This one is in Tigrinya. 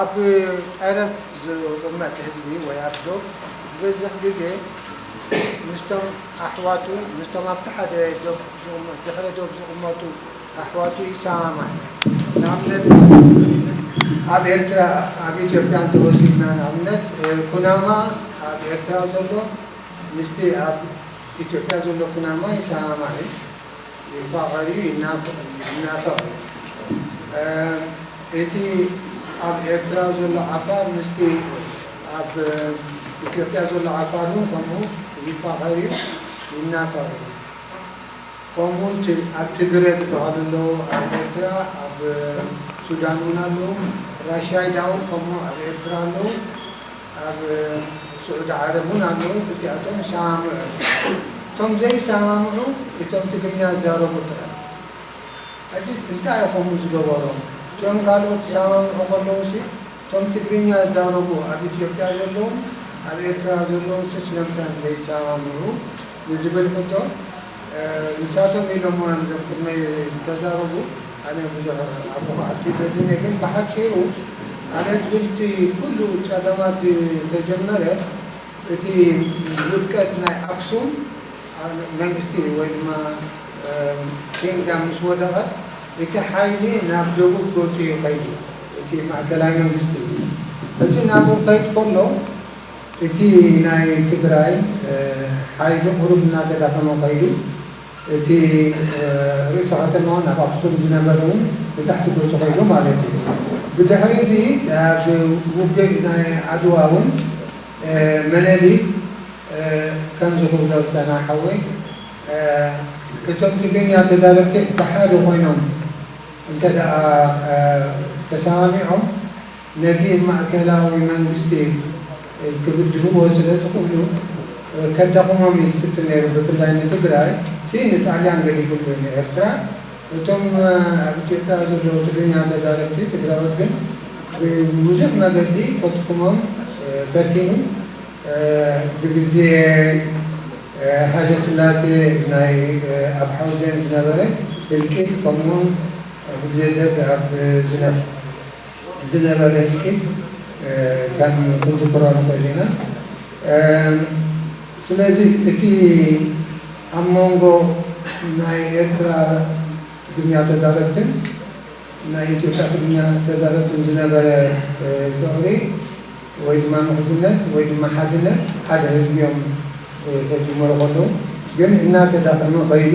ኣብ ጠረፍ ዝቕመጥ ህዝቢ ወይ ኣብ ዶብ ዝበዝሕ ግዜ ምስቶም ኣሕዋቱ፣ ምስቶም ኣብቲ ሓደ ዶብ ዝቕመጡ፣ ድሕረ ዶብ ዝቕመጡ ኣሕዋቱ ይሰማማዕ እዩ። ንኣብነት ኣብ ኤርትራ፣ ኣብ ኢትዮጵያ እንተ ወሲድና ንኣብነት ኩናማ ኣብ ኤርትራ ዘሎ ምስቲ ኣብ ኢትዮጵያ ዘሎ ኩናማ ይሰማማዕ እዩ። ይፋቐር እዩ ይናፈቕ እዩ ይናፈቕ እዩ እቲ ኣብ ኤርትራ ዘሎ ዓፋር ምስቲ ኣብ ኢትዮጵያ ዘሎ ዓፋር ውን ከምኡ ይፋቐር እዩ ይናፈቕ እዩ ከምኡ እቲ ኣብ ትግረ ዝበሃሉ ኣለዉ ኣብ ኤርትራ ኣብ ሱዳን ውን ኣለዉ ራሻይዳ ውን ከምኡ ኣብ ኤርትራ ኣለዉ ኣብ ስዑዲ ዓረብ ውን ኣለዉ ክልቲኣቶም ይሰማምዑ እዮም እቶም ዘይሰማምዑ እቶም ትግርኛ ዝዛረቡ ጥራይ ሕጂ እንታይ እዩ ከምኡ ዝገበሮም እቶም ካልኦት ክሰማምዑ ከለዉሲ እቶም ትግርኛ ዝዛረቡ ኣብ ኢትዮጵያ ዘለዉን ኣብ ኤርትራ ዘለዉንሲ ስለምንታይ እዮም ዘይሰማምዑ ንዝብል ሕቶ ንሳቶም ኢሎሞ ኣንድዮም ቅድመይ ዝተዛረቡ ኣነ ብዙሕ ኣብኡ ክኣቱ ደልየ ግን ብሓጺሩ ኣነ ክብልቲ ኩሉ ጸገማት ዝተጀመረ እቲ ውድቀት ናይ ኣክሱም መንግስቲ ወይ ድማ ኪንግዳም ምስ ወደቐ እቲ ሓይሊ ናብ ደቡብ ገጹ እዩ ከይዱ እቲ ማእከላይ መንግስቲ እዚ ናብኡ ክኸይድ ከሎ እቲ ናይ ትግራይ ሓይሊ ቁሩብ እናተዳኸመ ከይዱ፣ እቲ ርእሰ ከተማውን ኣብ ኣኽሱም ዝነበረ እውን ንታሕቲ ገፁ ከይዱ ማለት እዩ። ብድሕሪ እዚ ኣብ ውግእ ናይ ዓድዋ እውን መነሊክ ከምዚ ክብሎ ዝፀንሐ ሓወይ እቶም ትግርኛ ተዛረብቲ ብሓደ ኮይኖም እንተድኣ ተሰማሚዖም ነቲ ማእከላዊ መንግስቲ ክብድህዎ ስለ ዝኽእሉ ከዳኽሞም እዩ ዝፍትን ነይሩ ብፍላይ ንትግራይ እቲ ንጣልያን ገዲፍሉ እዩ ንኤርትራ እቶም ኣብ ኢትዮጵያ ዘለዉ ትግርኛ ተዛረብቲ ትግራዎት ግን ብብዙሕ መገዲ ከድክሞም ፈቲኑ ብግዜ ሃይለስላሴ ናይ ኣብ ሓውዜን ዝነበረ ህልቂት ከምኡውን ብግዜ ደርግ ኣብ ዝነፍ። ብጀነራልያትኪ ከም ክንዝክሮ ንኽእል ኢና። ስለዚ እቲ ኣብ ሞንጎ ናይ ኤርትራ ትግርኛ ተዛረብትን ናይ ኢትዮጵያ ትግርኛ ተዛረብትን ዝነበረ ፍቕሪ ወይ ድማ ምሕዝነት ወይ ድማ ሓድነት ሓደ ህዝቢ'ዮም ከጅምሩ ከለዉ ግን እናተዳኸመ ከይዱ።